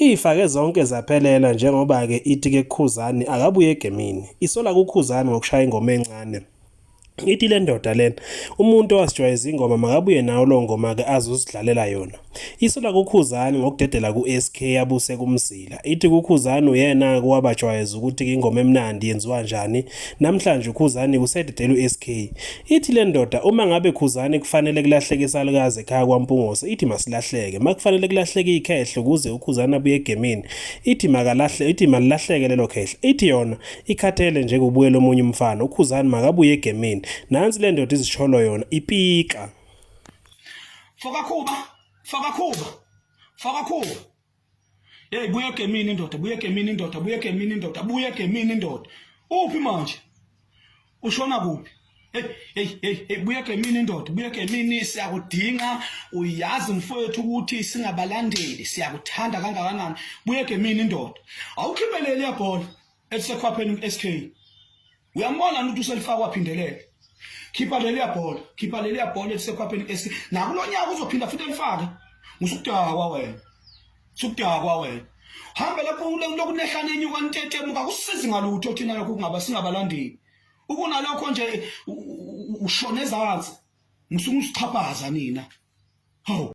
Iyifake zonke zaphelela njengoba-ke ithi ke kuKhuzani akabuye egemini. Isola kuKhuzani ngokushaya ingoma encane. Ithi le ndoda lena umuntu owasijwayeza ingoma makabuye nawo lo ngoma-ke azosidlalela yona. Isola kuKhuzani ngokudedela ku-SK yabuse kumzila. Ithi kuKhuzani uyena-ke owabajwayeza ukuthi-ke ingoma emnandi yenziwa njani Namhlanje uKhuzani usededela uSK. Ithi le ndoda uma ngabe Khuzani kufanele kulahleke isalukazi ekhaya kwaMpungose, ithi masilahleke. Makufanele kulahleke ikhehle ukuze uKhuzani abuye egemini, ithi makalahle, ithi malilahleke lelo khehle. Ithi yona ikhathele nje kubuyela omunye umfana, uKhuzani makabuye egemini. Nansi le ndoda izisholo yona, ipika. Fokakhuba, fokakhuba, fokakhuba. Hey buye ke mina indoda, buye ke mina indoda, buye ke mina indoda, buye ke mina indoda. Uphi manje? Ushona kuphi? Hey hey hey hey buye ke mina indoda, buye ke mina siyakudinga. Uyazi mfowethu ukuthi singabalandeli, siyakuthanda kangakanani. Buye ke mina indoda. Awukhiphelele yabhola. elisekhwapheni uSK uyambona ukuthi uselifakwa phindelele khipha leliya bhola khipha leliya bhola elisekhwapheni uSK nakulonyaka uzophinda futhi elifake musukudakwa wena sukudakwa wena hamba lapho lokunehlane enyuka ntetemuka kusizi ngalutho thina lokho kungaba singabalandeli ukunalokho nje ushona ezansi ngisuke usixhaphaza nina hawu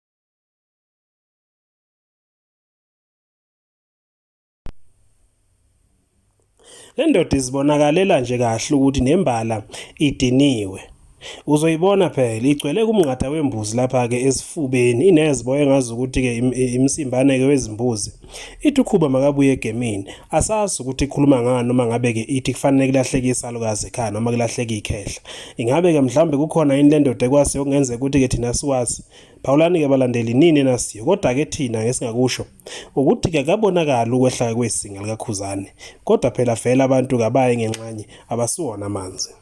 Le ndoda izibonakalela nje kahle ukuthi nembala idiniwe. Uzoyibona phela igcwele kumnqatha wembuzi lapha-ke esifubeni ineziboya engazi ukuthi-ke imsimbane-ke wezimbuzi. Ithi ukhuba makabuye egemini. Asazi ukuthi ikhuluma ngani noma ngabe ke ithi kufanele kulahleke isalukazi ekhaya noma kulahleke ikhehla. Ingabe ke mhlambe kukhona into endoda ekwazi okungenzeka ukuthi ke thina siwazi. Phawulani ke balandeli nini enasiyo kodwa ke thina ngesingakusho ukuthi ke kabonakala ukwehla kwesinga likakhuzane. Kodwa phela vele abantu kabaye ngenxanye abasiwona amanzi.